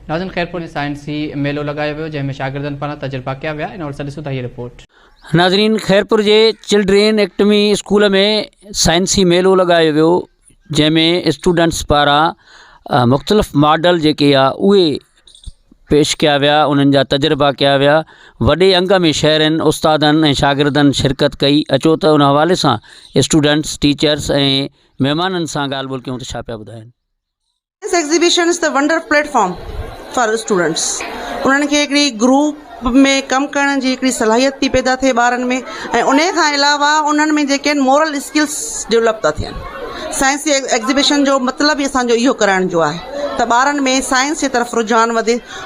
ناظرين خيرپور ۾ سائنسي ميلو لڳايو ويو جنهن ۾ شاگردن پاران تجربا ڪيا ويا ان حوالي سان ڏسون ٿا هيء رپورٽ. ناظرين خيرپور جي چلڊرين ايڪٽمي اسڪول ۾ سائنسي ميلو لڳايو ويو جنهن ۾ اسٽوڊنٽس پاران مختلف ماڊل جيڪي آ اهي پيش ڪيا ويا انهن جا تجربا ڪيا ويا وڏي انگ ۾ شهرين استادن ۽ شاگردن شرڪت ڪئي اچو ته ان حوالي سان اسٽوڊنٽس ٽيچرس ۽ مهمانن سان ڳالهه ٻولهه ڪيون ته ڇا پيا ٻڌائين. Science exhibition is the wonder platform for students انهن کي هڪڙي گروپ ۾ ڪم ڪرڻ جي هڪڙي صلاحيت ٿي پيدا ٿئي ٻارن ۾ ۽ ان کان علاوه انهن ۾ جيڪي آهن مورل اسڪلس ڊولپ ٿا ٿين سائنس ايگزيبيشن جو مطلب ئي اسانجو اهو ڪرائڻ جو آهي ته ٻارن ۾ سائنس جي طرف رجحان وڌي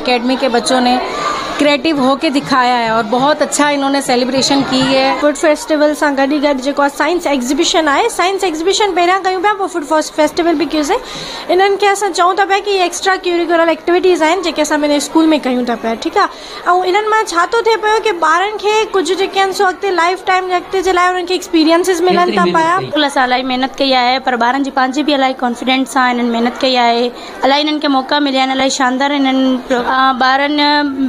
اڪيڊمي ڪي بچو ني ڪريٽو هو ڪي دکايا هي اور بهت اڇا انهون ني سيليبريشن ڪي هي. فوڊ فيسٽيول سان گڏ ئي گڏ جيڪو آ سائنس ايگزيبيشن آهي سائنس ايگزيبيشن پهريان ڪيون پيا پوء فوڊ فيسٽيول به ڪيو سين انهن کي اسان چئون ٿا پيا ڪي هي ايڪسٽرا ڪيوريڪولر ايڪٽيويٽيز آهن جيڪي اسان پنهنجي اسڪول ۾ ڪيون ٿا پيا ٺيڪ آ ۽ انهن مان ڇا ٿو ٿئي پيو ڪي ٻارن کي ڪجهه جيڪي آهن سو اڳتي لائف ٽائيم جي اڳتي جي لاء انهن کي ايڪسپيرينسز ملن ٿا پيا. اسڪول اسان الاهي محنت ڪئي آهي پر ٻارن جي پنهنجي به الاهي ڪانفيڊنٽ سان انهن محنت ڪئي آهي. الاهي انهن کي موقعا مليا آهن الاهي شاندار انهن ٻارن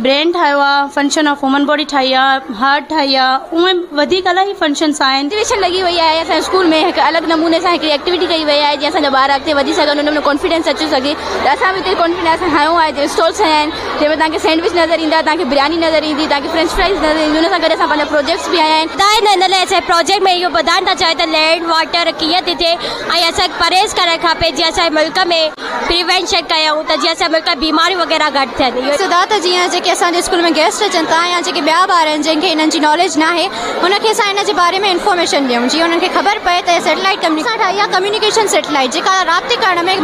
برين ٺاهيو آهي فنڪشن آف هيومن باڊي ٺاهي آهي هارٽ ٺاهي آهي اهي وڌيڪ الاهي فنڪشنس آهن ايگزيبيشن لڳي وئي آهي اسان جي اسڪول ۾ هڪ الڳ نموني سان هڪڙي ايڪٽيوٽي ڪئي وئي آهي جيئن اسان جا ٻار اڳتي وڌي سگهن انهن ۾ ڪانفيڊنس اچي سگهي ته اسان به اتي ڪانفيڊنس هنيو آهي جي اسٽالس هنيا آهن جنهن ۾ توهان کي سينڊوچ نظر ايندا توهان کي برياني نظر ايندي توهان کي فرينچ فرائز نظر ايندي ان سان گڏ اسان پنهنجا پروجيڪٽس به هنيا آهن ته هن لاء اسان پروجيڪٽ ۾ اهو ٻڌائڻ ٿا چاهيون ته لينڊ واٽر ڪيئن ٿي ٿئي ۽ اسان کي پرهيز ڪرڻ کپي جيئن اسان جي ملڪ ۾ پريوينشن ڪيون ته جيئن اسان جي ملڪ ۾ بيماريون وغيره گهٽ ٿين. سڌارٿ جيئن جيڪي اسان جي اسڪول ۾ گيسٽ اچن ٿا يا جيڪي ٻيا ٻار آهن جن کي انهن جي ناليج ناهي انهن کي اسان ان جي باري ۾ انفارميشن ڏيون جيئن انهن کي خبر پئي ته سيٽلائيٽ ڪميونيڪيشن اسان ٺاهي آهي ڪميونيڪيشن سيٽلائيٽ جيڪا رابطي ڪرڻ ۾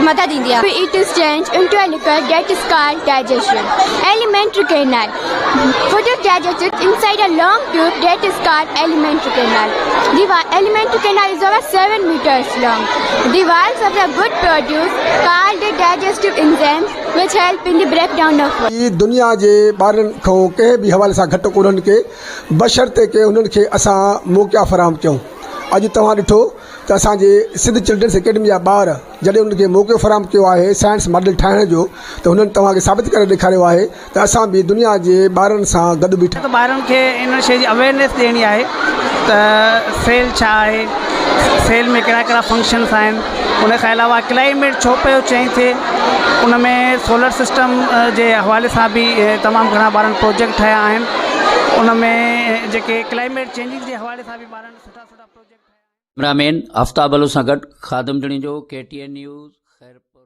مدد ايندي آهي. P A to strange intellectual that sky digestion elementary canal fodder data sets inside a long tube that is called elementary canal the while elementary canal is over seven metres long the walls of the gut produce called digestive enzymes which help in the break down of food. هي دنيا جي ٻارن کان ڪنهن به حوالي سان گهٽ ڪونهن ڪي بشرطيڪ انهن کي اسان موقعا فراهم ڪيون اڄ توهان ڏٺو ته اسان جي سنڌ چلڊرنس اڪيڊمي جا ٻار جڏهن انهن کي موقعو فراهم ڪيو آهي سائنس ماڊل ٺاهڻ جو ته هنن توهان کي ثابت ڪري ڏيکاريو آهي ته اسان به دنيا جي ٻارن سان گڏ بيٺا. ٻارن کي ان شيء جي اويرنيس ڏيڻي آهي ته سيل ڇا آهي، سيل ۾ ڪهڙا ڪهڙا فنڪشنس آهن، ان کان علاوه ڪلائميٽ ڇو پيو چينج ٿئي، ان ۾ سولر سسٽم جي حوالي سان به تمام گهڻا ٻارن پروجيڪٽ ٺاهيا آهن، ان ۾ جيڪي ڪلائميٽ چينجز جي حوالي سان به ٻارن سٺا سٺا پروجيڪٽ ٺاهيا آهن. ڪئميرا مين آفتاب علو سان گڏ Khadim Junejo, K T N news, Khairpur.